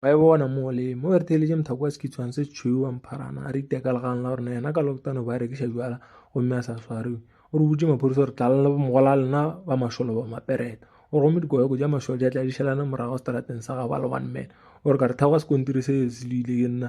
ba e bona mo le mo re theeletše mothako wa sekitshwane se tshweu wa mpharana a re iteka legang la gorena yena ka loktano ba rekiša jala gomme a sa swariwe o re botse maphodisa gore tlalela mogola lena ba mašolo ba mapereta o re gomme dikoyoko ja mašolo ja tladišelana morago seterateng sa gabo a le one man o re ka re theoga sekontiri se se le ile ke nna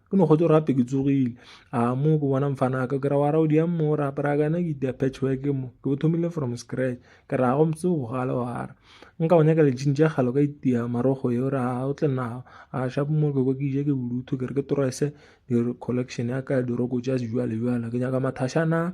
ke no kgotse rape ke tsogile a mo ke bona mfana ka ke ra wa ra o di mo o rape ra kana ke dia patch work mo ke bo thomile from scratch ke ra go mtse go gala wa ra nka o nyaka le jinja galo ka itia marogo yo ra o tle na a sha mo ke go ke je ke bulutho ke re ke torese di collection ya ka di roko ja jwale jwale ke nyaka mathashana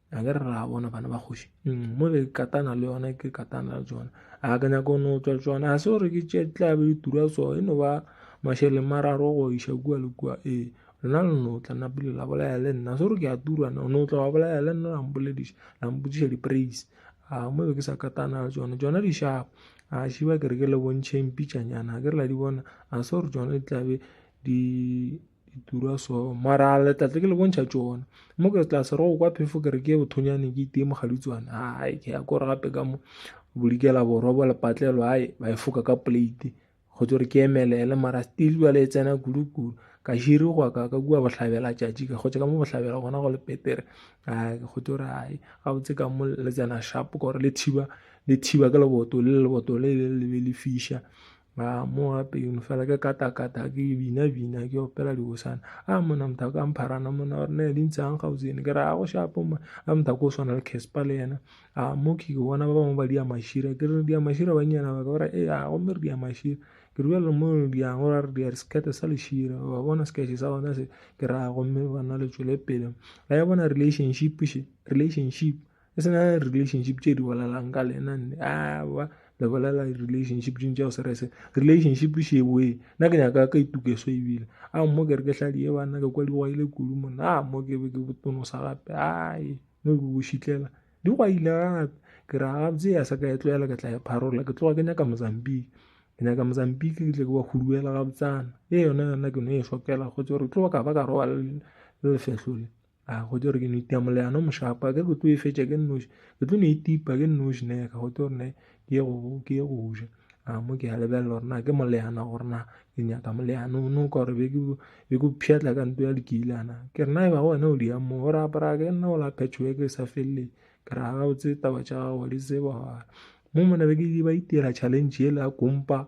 a ke re ra bona bana ba kgoši mm, mo ke katana le yona ke katana le tsona a ke nyako no tswa tsona ga se gore ke tšetla be ditura so e no ba mašeleng mararo go iša kua le kua ee lona le no tla napile la bolaya le nna se gore ke a turana o no tla wa bolaya le nna lampolediša lampotsiša di-praise a mo be ke sa katana le tsona tsona di shapo a šiba ke re ke le bontšheng pitšanyana ke re la di bona a se gore tsona di tlabe di di tura so mara a letlatle ke le bontšha tsona mo ke tla sero go kwa phefo ke re ke bothonyane ke itee mogaditswane ai ke ya kore gape ka mo bolikela borwa bo lepatlelo ai ba e foka ka plate go tso re ke emelele mara still jale e tsena kudu-kudu ka širi gwa ka ka kua bohlabela tšatši ka gotse ka mo bohlabela gona go le petere ai go tso re ai ga botse ka mo le tsena shapo gore le thiba le thiba ka leboto le leboto le le be le fiša a mo gape yone fela ke katakata ke bina bina ke opela dibosana a mona motho a ka mpharana mona gore ne di ntshang gausene ke re a go shapo ma a motho ko o swana le casper le yena a mo ke ke bona ba bangwe ba dia mashira ke re dia mashira ba nyana ba ka ba re e a go mere dia mashira ke re bjalo mo diang gore re dia sekete sa lešira ba bona sekete sa bona se ke ra gomme ba na le tswele pele ga ya bona relationship she relationship e sena relationship tše di bolelang ka lena nne awa le bolela relationship ding tšeo se re se relationship sheboe nna ke nyaka ka itukeso ebile a mo ke re ke hladi e banna ke kwa di gwaile kudu monna a mo ke be ke botonosa gape ae no ke bošitlela di gwaile gape ke ra gabotse ya sa ka e tlogela ke tla e pharola ke tloga ke nyaka mozambique ke nyaka mozambique ke tle ke ba huduela gabotsana e yona yona ke no e shokela go tse gore tloga ka ba ka roba le lefetlho le a go tlo re ke no itia moleano mošapa ke ke tlo e fetša ke nnoši ke tlo no itipa ke nnoši ne ka go tlo gore ne ke ye go ke ye go ja a mo ke a lebelela gore na ke moleana gore na ke nyaka moleano o no ka gore be ke be ke pšhatla ka nto ya lekilana ke re na e ba go wena o di yang mo gore apara ke nna o la phetšho ke sa feleleng ke re ga o tse taba tša gago di tseba mo mona be ke ba itira challenge ele ya kompa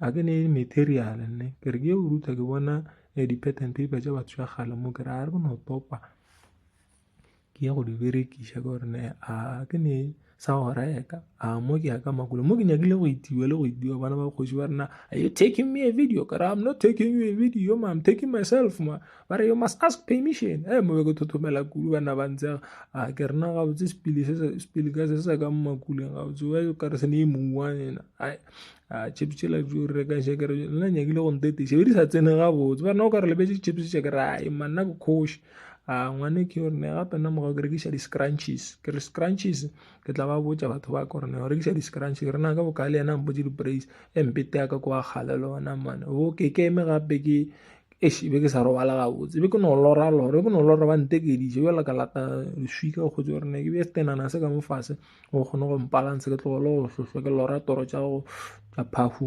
a ke ne material nne ke re ke o ruta ke bona eh, di-pattern paper tša batho ya gale mo ke re a re ke no topa ke ya go di berekiša ka gore ne a ke ne sa go reka a mo ke ya ka makolo mo ke nyakile go itiwa le go itiwa bana ba kgoši ba rena are you taking me a video kare i'm not taking you a video ma i'm taking myself ma ba re you must ask permission e eh, mo be ke thothomela kudu bana ba ntse a ke rena gabotse sepili ka se se ka mmakuleng gabotse wa kare se ne e mouwa ena a chips tšela jo re ka še kere nna nyakile go ntetise be di sa tsene gabotse ba nna o ka re lebetse chips tše kere a e manna ke kgoši a ngwane ke gore ne gape nna morago ke rekiša di-scrunches ke re scrunches ke tla ba botsa batho ba kore ne o rekiša di-scrunches ke re na ka bokae le yena mpotse di-brace e mpete ya ka ko wa kgale le ona mane o ke ke eme gape ke eish be ke sa robala gabotse be ke no lora lora be ke no lora ba ntekeditše bjale ka lata leswika go tse gore ne ke bje setenana se ka mofase o kgone go mpalanse ke tlogole go hlohlwa ke lora toro tša go tša phahu